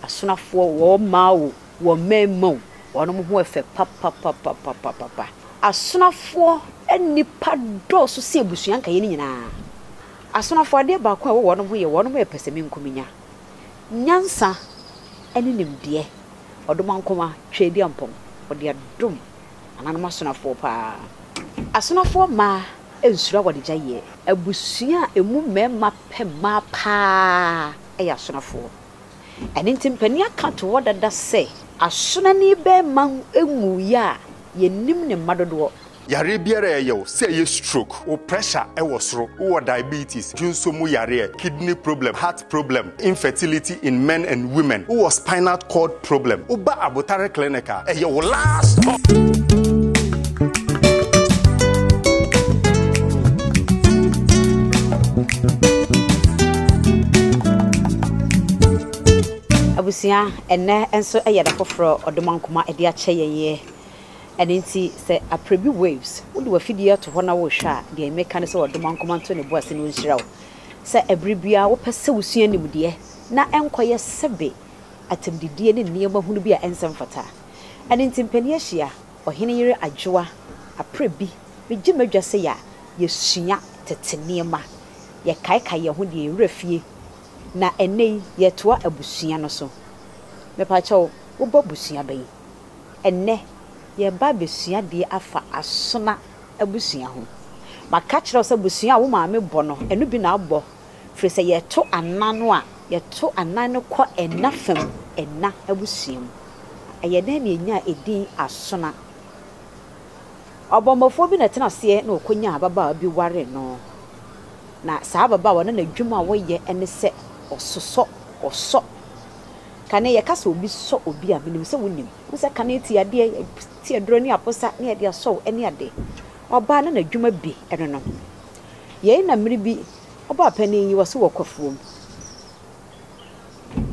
Asonafoɔ wɔɔ mmaa oo, wɔɔ mmarima oo, wɔnom ho yɛ fɛ papapapapapapa. Asonafoɔ nnipa dɔɔso sen abusua nkaeɛ no nyinaa. Asonafoɔ adeɛ baako a ɛwɔ wɔnom ho yɛ wɔnom yɛ pɛsɛmenkominya, nyansa ne nimdeɛ. Ɔdomankoma Tweaduampɔn, ɔde adom nananom asonafoɔ paa. Asonafoɔ mmaa nsuro awaregyaeɛ. Abusua a ɛmu mmarima pɛ mmaa paa yɛ asonafoɔ. Ɛno nti mpanin aka ato hɔ dada sɛ. Asonani bɛɛma nwuiɛ a yɛnnim ne mma dodoɔ. Yareɛ biara a ɛyɛ wo, sɛ ɛyɛ stroke, wo pressure ɛwɔ soro, wowɔ diabetes, dwonso mu yareɛ, kidney problem, heart problem, infertility in men and women, wowɔ spinal cord. Problem, wo ba abotare clinic a, ɛyɛ wo last stop. Abusua, ɛnnɛ nso ɛyɛ da foforɔ ɔdom ankoma ɛde akyɛ yɛn yɛ. Ɛno nti sɛ aprɛbi waves wode w'afidie ato hɔ na worehwɛ a, deɛ meka ne sɛ ɔdom ankoma nto ne bo ase na ɔnhyira wo. Sɛ ɛberɛ biara wopɛ sɛ wosua nimdeɛ na ɛnkɔyɛ sɛbe atɛmdidie ne nneɛma hunu bi a ɛnsɛ mfata. Ɛno nti mpanin ahyia, ɔhene yere adwoa, aprɛ bi, megye m'adwa sɛ yɛ a yɛsua tete nneɛma, yɛkaekae yɛn ho deɛ yɛn werɛ fie, na ɛnnɛ yi yɛretoa abusua no so. Mepakyɛw, wobɔ abusua bɛn? Ɛnnɛ, yɛreba abɛsua deɛ afa Asona abusua ho. Maka akyerɛ wo sɛ abusua a wo maame bɔ no, ɛno bi na abɔ Firi sɛ yɛto anan no a, yɛto anan no kɔ ɛna fa mu, ɛna abusua mu. Ɛyɛ nan mmienyi a edin Asona. Ɔbɔmmɔfoɔ bi na ɛtena aseɛ na ɔkɔnyaa ababaawa bi waree no. Na saa ababaawa no n'adwuma a ɔyɛ ne sɛ ɔsosɔ, ɔsɔ, kane. Yɛka sɛ obi sɔ obi a, menim sɛ wonim. Wohu sɛ kane ti adeɛ, yɛte aduro ne aposa ne yɛde asɔ wo ne adeɛ. Ɔbaa no n'adwuma bi ne no. Yei na mmere bi ɔbaapanin yi ɔse wɔ kwafuo mu.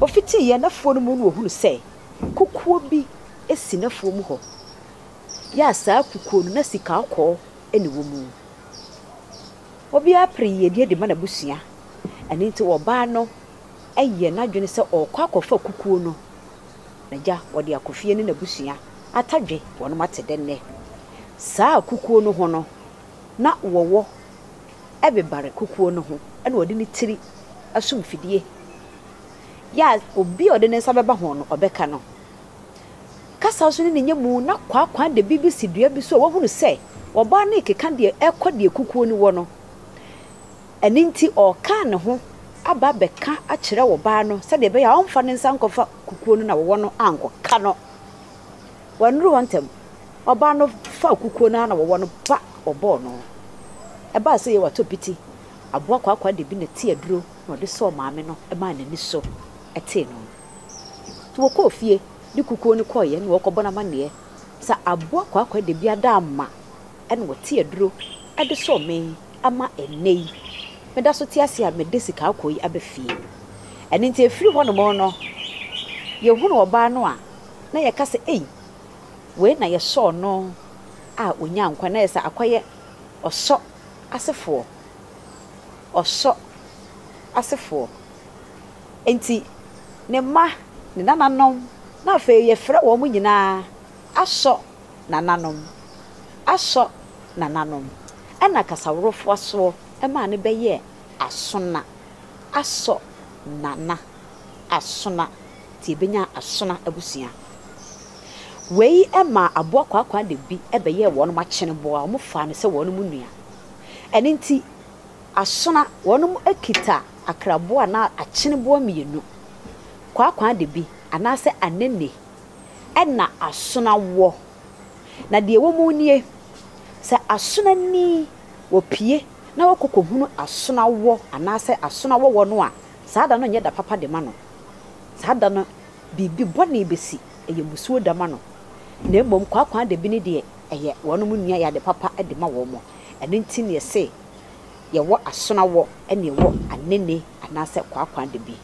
Ɔfitiiɛ n'afuo no mu na ɔhunu sɛ kukuo bi si n'afuo mu hɔ. Yɛ a saa kukuo no na sika kɔkɔɔ na ɛwɔ mu. Obiara pere yiedie de ma n'abusua. Ɛno nti ɔbaa no yɛ n'adwene sɛ ɔrekɔ akɔfa kukuo no. N'agya ɔde akɔ fie ne n'abusua atadwe wɔnom ate dɛ nnɛ. Saa kukuo no ho no na wɔwɔ bebare kukuo no ho na ɔde ne tiri so mfidie yɛ a obi a ɔde ne nsa bɛba ho no ɔbɛka no. Kasa nso ne ne nya mu na kwaakwa de biribi si dua bi so a wahunu sɛ ɔbaa no rekeka deɛ ɛkɔ deɛ kukuo no wɔ no. Ɛno nti ɔreka ne ho aba abɛka akyerɛ ɔbaa no sɛdeɛ ɛbɛyɛ a ɔmfa ne nsa nkɔfa kukuo no na wɔwɔ no ankɔka no. Wɔannuru hɔ ntɛm. Ɔbaa no faa kukuo no ara na wɔwɔ no ba wɔbɔɔ no. Ɛbaa sɛ Yehowa tɔ piti aboa kwaakwa de bi na ɛte aduro na ɔde sɔɔ maame no maa n'ani so tee no. Nti wɔkɔɔ fie de kukuo no kɔeɛ na wɔrekɔbɔ no amanneɛ sɛ aboa kwaakwa de bi ada ama na ɔte aduro de sɔɔ me ama ɛnnɛ yi meda so te ase a mede sika akɔ yi aba fie. Ɛno nti ɛfiri hɔnom no yɛhunuu ɔbaa no a na yɛka sɛ, Ei, wei na yɛsɔɔ no a ɔnyaa nkwa, na ayɛ sɛ akɔyɛ ɔsɔ asefoɔ, ɔsɔ asefoɔ. Enti ne mma, ne nananom, na afei yɛfrɛ wɔn nyinaa asɔ nananom, asɔ nananom. Ɛnna Kasaworofo asoɔ maa no bɛyɛɛ asona, asɔ nana. Asona, nti yɛbɛnyaa Asona abusua. Wei maa Aboa Kwaakwa de bi bɛyɛɛ wɔnom akyeneboa, wɔn faa no sɛ wɔnom nua. Ɛno nti Asona, wɔnom kita akraboa anaa akyeneboa mmienu, Kwaakwa de bi anaasɛ Anene ɛna Asona wɔ. Na deɛ ɛwɔ mu nie, sɛ Asona ni, wɔpue na wɔkɔ kɔhunu Asona wɔ anaasɛ Asona wɔwɔ no a, Saa da no nyɛ da papa de ma no. Saa da no biribi bɔne bɛsi, ɛyɛ mmusuo da ma no. Na mmom kwaakwaadabi no deɛ, ɛyɛ wɔnom nnua, ɛyɛ ade papa de ma wɔn. Ɛno nti na yɛse, yɛwɔ asonawɔ ɛne yɛwɔ anene anaasɛ kwaakwaadabi.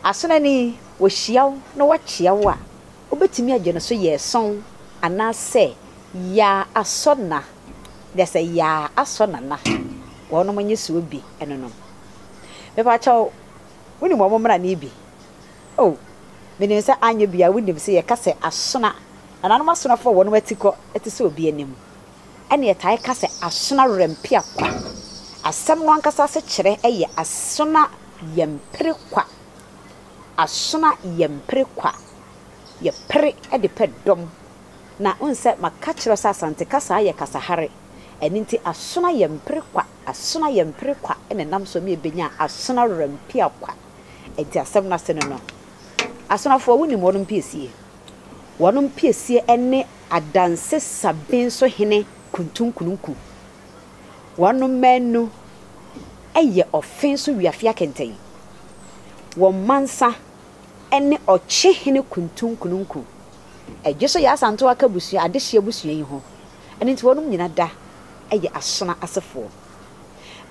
Asona ni, wɔhyia wo na wɔkyea wo a, wobɛtumi agye no so yɛɛsɔn anaasɛ yaa asɔna, na sɛ yaa asɔna na wɔnom nye soɔ bi, ɛno no. Mepakyɛw, wunim wɔn mmara no bi? Oh, minim sɛ anyɛ biara wunim sɛ yɛka sɛ asona, nananom asonafo a wɔnom atikɔ te sɛ obi anim. Ɛna yɛtaa ka sɛ asona werɛmpea kwa. Asɛm no ankasa asekyerɛ yɛ asona yɛmpere kwa. Asona yɛmpere kwa. Yɛpere de pɛ dɔm. Na wohu sɛ maka akyerɛ wo sɛ Asante kasa yɛ kasa hare. Ɛno nti asona yɛmpere kwa. Asena yɛ mpere kwa na ɛnam so ma yɛbɛnya asena rampia kwa. Enti asɛm no ase ne no. Asenafoɔ, wonim wɔnom piesie? Wɔnom piesie ne adanse saben so hene Kuntunkununku. Wɔnom maanu yɛ ɔfe so wiafea kɛntɛn. Wɔn mansa ne ɔkye hene Kuntunkununku. Ɛgye so yɛ Asantew Aka abusua, adehye abusua yi ho. Ɛno nti wɔnom nyina da yɛ Asona asefoɔ.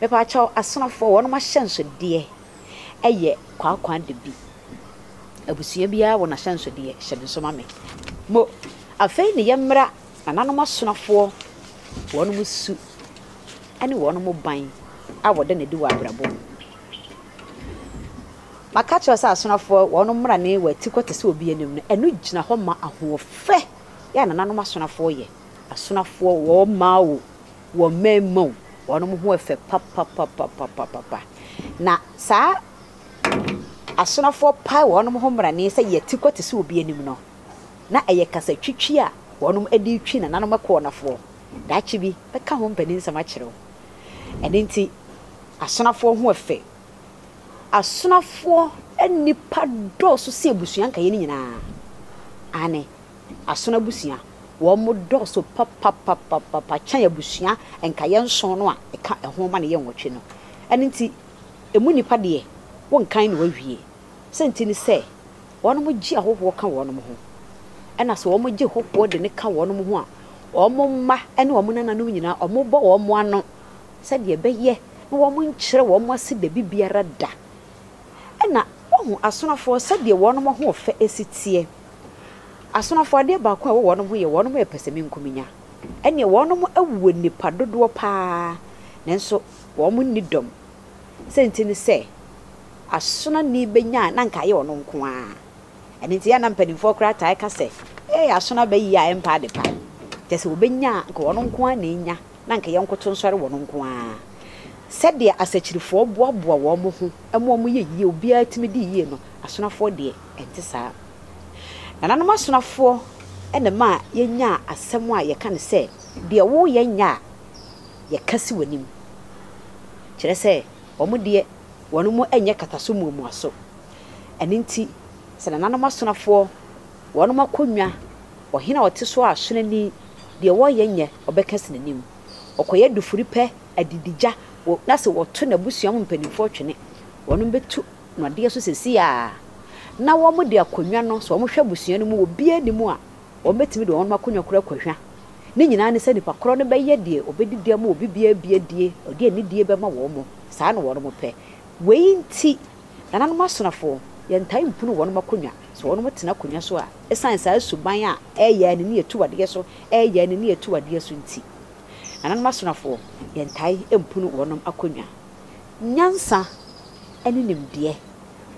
Mepaakyɛw, Asonafoɔ, wɔnom ahyɛnsodeɛ yɛ kwaakwa de bi. Abusua biara wɔ n'ahyɛnsodeɛ, hyɛ no nso ma me. Mo, afei ne yɛmmra nananom Asonafoɔ, wɔnom su ne wɔnom ban a wɔda no adi wɔ abrabɔ mu. Maka akyerɛ wo sɛ Asonafoɔ, wɔnom mmra ne wɔn atikɔ te sɛ obi anim no, ɛno gyina hɔ ma ahoɔfɛ yɛ a nananom Asonafoɔ yɛ. Asonafoɔ wɔɔ mmaa oo, wɔɔ mmarima oo, wɔnom ho ɛfɛ papapapapapapa. Na saa asonafoɔ pae wɔnom ho mmrane sɛ yɛte kɔ te sɛ obi anim no, na ɛyɛ kasatwitwi a wɔnom de retwi nananom ɛkoɔnafoɔ. Daakye bi, mɛka ho mpaninsɛm akyerɛ wo. Ɛno nti, asonafoɔ ho ɛfɛ. Asonafoɔ nnipa dɔɔso sen abusua nkaeɛ no nyinaa. Aane, Asono abusua, wɔdɔɔso papapapapa kyɛn abusua nkaeɛ nson no a ɛka ɛho ma no yɛ nwɔtwe no. Ɛno nti, ɛmu nnipa deɛ, wonkan na wɔawie. Sɛnti ne sɛ, wɔnom gye ahɔhoɔ ka wɔnom ho. Ɛna sɛ wɔn gye hɔhoɔ de no ka wɔnom ho a, wɔn mma ne wɔn nananom nyinaa, wɔn bɔ wɔn ano sɛdeɛ ɛbɛyɛ na wɔn nkyerɛ wɔn ase dabi biara da. Ɛna, woahu asonofoɔ sɛdeɛ wɔnom ahoɔfɛ si teɛ. Asomafo adeɛ baako a ɛwɔ wɔnom ho yɛ wɔnom yɛ pɛsɛmenkominya. Ɛneɛ wɔnom wɔ nnipa dodoɔ paa nanso wɔn nni dɔm. Sɛ nti ne sɛ asonani bɛnya a na nka ayɛ ɔno nko ara. Ɛno nti yɛ a na mpanimfoɔ koraa taa ka sɛ ee asono aba yie a ɛmpa ade pa. Kyɛ sɛ wɔbɛnya a nka wɔn nko ara na ɛnya na nka yɛnkoto nsɔre wɔn nko ara. Sɛdeɛ asakyirifoɔ boaboa wɔn ho ma wɔyɛ yie obiara tumi di yie no asonafoɔ deɛ ɛnte saa. Nananom asomafoɔ na ɛmaa yɛnyaa asɛm a yɛka no sɛ, Deɛ woreyɛ nyɛ a, yɛka si w'anim. Kyerɛ sɛ, wɔn deɛ, wɔn mu nyɛ kataso muamuaso. Ɛno nti, sɛ nananom asomafoɔ, wɔn akonnwa, ɔhene a ɔte so a sonani, deɛ wɔreyɛ nyɛ, wɔbɛka si n'anim. Ɔkɔyɛ dufiri pɛ, adididwa, na sɛ wɔto n'abusua mu mpanimfoɔ twene, wɔn bɛtu Nnadeɛ so sɛsi ara na wɔn de akonnwa no sɛ wɔn hwɛ abusua no mu wɔ biara nni mu a wɔn bɛtumi de wɔn nom akonnwa koro akɔ hwa ne nyinaa ne sɛ nipa korɔ no bɛyɛ deɛ ɔbɛdidi ama obi biara bi adie ɔde anidie bɛma wɔn mo saa na wɔn nom pɛ wei nti nananom asonafo yɛntae mpunu wɔn nom akonnwa sɛ wɔn nom tena akonnwa so a ɛsan saa suban a ɛyɛ anini atu adeɛ so ɛyɛ anini atu adeɛ so nti nananom asonafo yɛntae mpunu wɔn nom akonnwa. Nyansa ne nimdeɛ,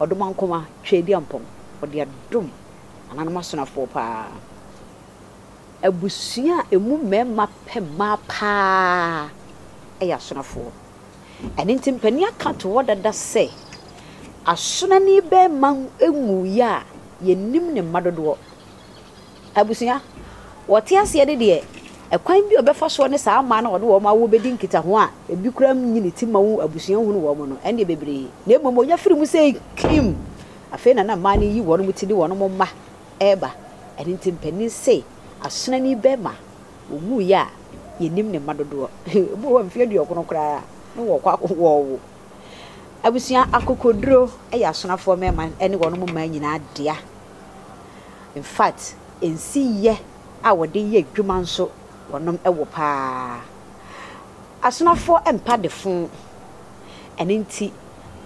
ɔdomankoma Tweaduampɔm, ɔde adom nananom asonafoɔ paa. Abusua a ɛmu mmarima pɛ mmaa paa yɛ asonafoɔ. Ɛno nti mpanin aka to hɔ dada sɛ, asonani barima nwuiɛ a yɛnnim ne mma dodoɔ. Abusua, Wɔte aseɛ ne deɛ ɛkwan bi a ɔbɛfa soɔ ne saa mmaa no a wɔde wɔn awo bɛdi nkitaho a ɛbi koraa nnye ne ti mma wo abusua nhunu wɔn no ɛnneɛ bebree na mmom ɔnya firi mu sei kim afei na na mmaa no reyi wɔnom ti de wɔnom mma reba ɛno nti mpanin se asonani bɛɛma ɔwuiɛ a yɛnnim ne mma dodoɔ ebi wɔ hɔ a mfeɛ aduɔkono koraa na wɔkɔ akɔwɔwo Abusua, Akokoduro yɛ asonafoɔ mmarima ne wɔnom mmaa nyinaa dea. In fact, nsiyɛ a wɔde yɛ adwuma nso wɔnom wɔ paa. Asonafoɔ mpa defo. Ɛno nti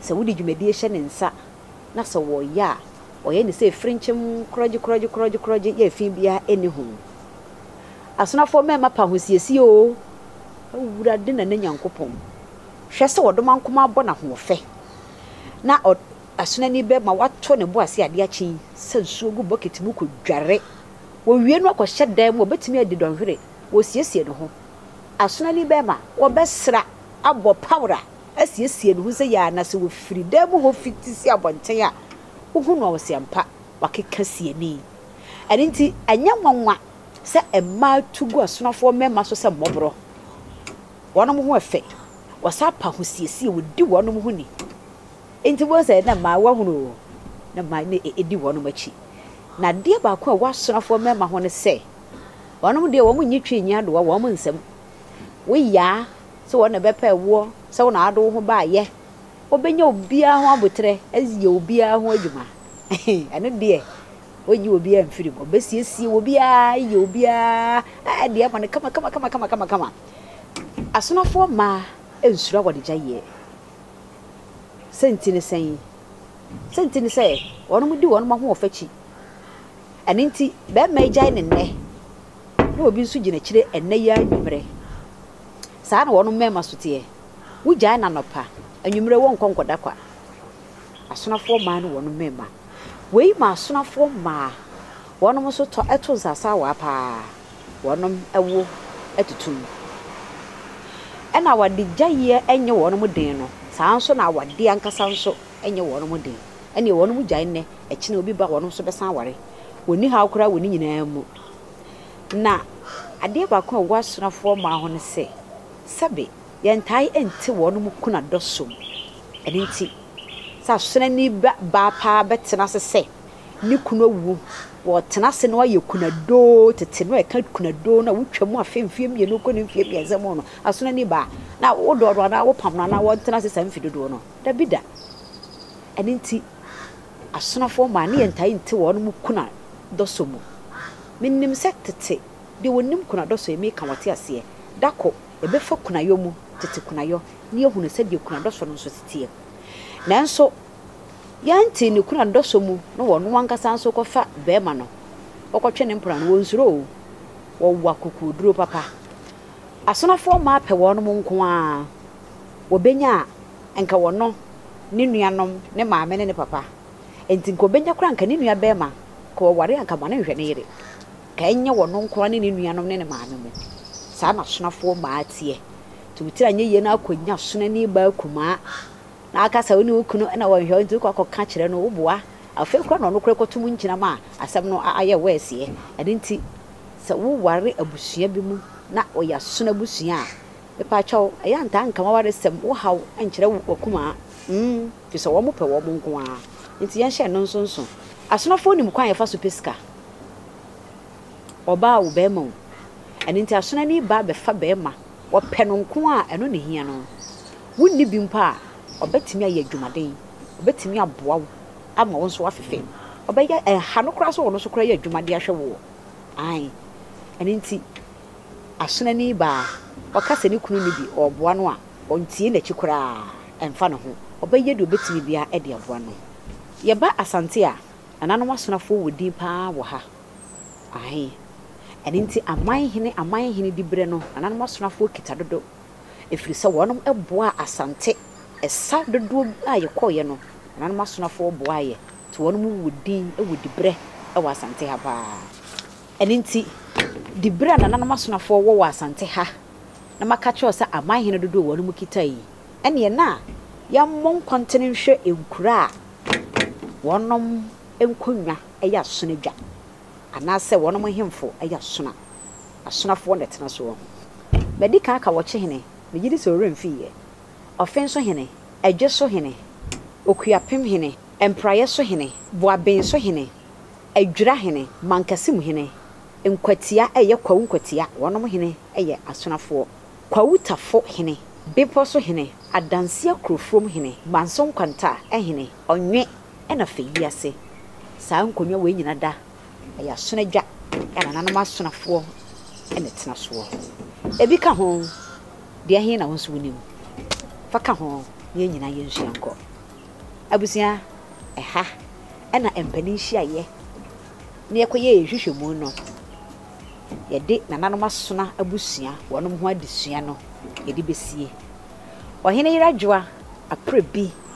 sɛ wode dwumadie hyɛ ne nsa na sɛ wɔyɛ a, ɔyɛ no sɛ frenkyem korɔgye korɔgye korɔgye korɔgye yɛ fi biara nni ho. Asonafoɔ mmarima pa ahosiesie oo, Awurade na ne Nyankopɔn. Hwɛ sɛ ɔdoma nkomaa bɔ n'ahoɔfɛ na ɔ. Asonani bɛ ma wato ne bo ase ade akye yi sa nsuo gu bokiti mu kɔ dware. Wɔ wie no akɔ hyɛ dan mu a obetumi adi dɔnhwere. Wɔ siesie ne ho. Asonani bɛ ma wɔ bɛ sra, abɔ pawra, asiesie ne ho sɛ yɛ a na sɛ wɔ firi dan mu hɔ fi ti si abɔnten a wo hu no a wɔ se ampa wɔ akeka siani. Ɛno nti ɛnyɛ nwanwa sɛ mmaa tu gu asonafoɔ mmarima so sɛ mmɔborɔ. Wɔnom ho ɛfɛ. Wɔ sa pa ho siesie, wɔ di wɔnom ho ni. Enti wohu sɛ na mmaawa hunu oo, na mmaa na ɛdi wɔnom akyi. Na adeɛ baako a ɛwɔ asonafoɔ mmarima ho ne sɛ, wɔnom deɛ wɔn nnye twi nnye adoa wɔn nsam. Wo yaa sɛ wɔn na ɛbɛpɛ woɔ, sɛ wo na wode wo ho baeɛ, wɔbɛnya obiara ho aboterɛ ayɛ obiara ho adwuma. Ɛno deɛ, wɔnnye obiara mfiri mu, wɔbɛsiesie obiara ayɛ obiara a deɛ ama no kama kama kama kama kama kama. Asonafoɔ mmaa nsuro awɔdegyaeɛ. Siantsir ne sɛn? Siantsir nye sɛ hɔnnom di hɔnnom ahoɔfɛ ekyi. Ɛno ntsi, bɛrima egyae ne nnɛ na obi nso gyina ekyir nnɛ yi ara ewimerɛ. Saa na hɔnnom mmarima so tseɛ. Wogyae no anɔpa, ewimerɛ wɔnnkɔ nnkɔda kwa. Asonafoɔ mmaa ne hɔnnom mmarima. Wei ma asonafoɔ mmaa hɔnnom nso tɔ to nsasaawaa pa ara. wɔn wo atutu mu. Ɛna wɔde gyaeɛ nyɛ wɔn den no, saa ara nso na awadeɛ ankasa nso nyɛ wɔn den. Ɛnneɛ wɔn gyae nnɛ, akyire obi ba wɔn nso bɛsan aware. Wɔnni haw koraa wɔ ne nyinaa mu. Na adeɛ baako a ɛwɔ asuafoɔ mmaa ho ne sɛ, sɛbe yɛntae nte wɔn kuna dɔ so mu. Ɛno nti, sɛ asonani ba baa paa bɛtena ase sɛ ne kunu awuo, wɔtena ase na wɔayɛ kunadoo tete no a ɛka kunadoo no a wotwa mu afe mfeɛ mmienu kɔ ne mfeɛ mmiɛnsa mu no aso no ani baa na wodɔ no anaa wopam no anaa wɔntena ase saa mfe dodoɔ no dabi da ɛno nti asonafoɔ maa ne yɛntae nte wɔn mu kuna dɔsɔ mu menim sɛ tete deɛ wɔnim kuna dɔsɔ yɛ meka wɔte aseɛ da ko ɛbɛfa kunayɔ mu tete kunayɔ ne yɛhunu sɛdeɛ kuna dɔsɔ no nso teteɛ nanso Yɛnte ne kunu adɔsɔ mu na ɔno ankasa nso kɔfa barima no kɔkɔtwe ne mpena no, wɔnsuro oo, wɔwɔ akokoɔduro papa. Asonafoɔ mmaa pɛ wɔnom nko ara, wɔbɛnya a, nka wɔno, ne nuanom, ne maame ne ne papa. Enti nka ɔbɛnya koraa nka ne nua barima, nka ɔware a nka ma no nhwɛ ne yere. Nka ɛnyɛ wɔno nko ara ne ne nuanom ne ne maame mu. Saa na asonafoɔ mmaa teɛ. Nti wo tiri anyɛ yie na akɔnya asonani baa kumaa. na aka sɛ wo ne wo kunu na wɔnhwɛ wo nti wokɔ akɔka kyerɛ no, woboa, afei koraa na ɔno koraa kɔto mu nkyena ma asɛm no ayɛ wɛɛseɛ. Ɛno nti sɛ woware abusua bi mu na wɔyɛ asono abusua a, mepaakyɛw, ɛyɛ a ntaa nka w'awaresɛm, wo haw nkyerɛ w'akuma, mm, firi sɛ wɔn pɛ wɔn nko ara. Nti yɛnhyɛ ɛno nso nso. Asonofoɔ nim kwan a yɛfa so pɛ sika. Ɔbaa o, barima o. Ɛno nti asonani ba bɛfa barima. Wɔpɛ no nko a, ɛno na ehia no. Wonni bi mpo a, ɔbɛtumi ayɛ adwumaden. Ɔbɛtumi aboa wo ama wo nso woafe fam. Ɔbɛyɛ, ɛha no koraa sɛ ɔno nso koraa yɛ adwuma de ahwɛ woɔ. Ae. Ɛno nti, asonani baa a, ɔka sɛ ne kunu nni bi, ɔreboa no a, ɔntie n'akyi koraa. Ɛmfa ne ho. Ɔbɛyɛ deɛ ɔbɛtumi biara de aboa no. Yɛba Asante a, nananom asonafoɔ wɔ din pa ara wɔ ha. Ahe. Ɛno nti aman hene aman hene diberɛ no nananom asonafoɔ kita dodo ɛfiri sɛ wɔnom boaa Asante ɛsa dodoɔ bi a yɛkɔeɛ no nananom asonafoɔ boaa yɛ nti wɔnom wɔ din wɔ diberɛ wɔ Asante ha paa ɛno nti diberɛ a nananom asonafoɔ wɔ wɔ Asante ha na maka kyerɛ wo sɛ aman hene dodoɔ a wɔnom kita yi ɛneɛ na yɛmmɔ nkɔntene nhwɛ nkuro a wɔnom nkonnwa yɛ asono adwa, anaasɛ wɔnom nhemfo yɛ asono a, asonafoɔ na ɛtena soɔ. Madi kan aka wɔkye hene, megye di sɛ ɔwerɛ mfii yɛ, ɔfen so hene, ɛdwe so hene, okuapem hene, mpraeɛ so hene, boaben so hene, adwira hene, mankɛse mu hene, nkwatia ɛyɛ kwawu nkwatia, wɔnom hene yɛ asonafoɔ, kwawu tafo hene, bepɔ so hene, adanseɛ korofurom hene, manso nkwanta hene, ɔnwe, na fɛ wiase. Saa nkonnwa wei nyina da a yɛasono adwa a nananom asonafoɔ na ɛtena soɔ. Ɛbi ka ho, deɛ he na wo nso wonim? Fa ka ho na yɛn nyinaa yɛnsua nkɔ. Abusua, ɛha na mpanin nhyiaeɛ na yɛkɔyɛ yɛn nhwehwɛmu no. Yɛde nananom asona abusua wɔnom ho adesua no yɛde bɛsie. Ɔhene Yerajoa Aprebi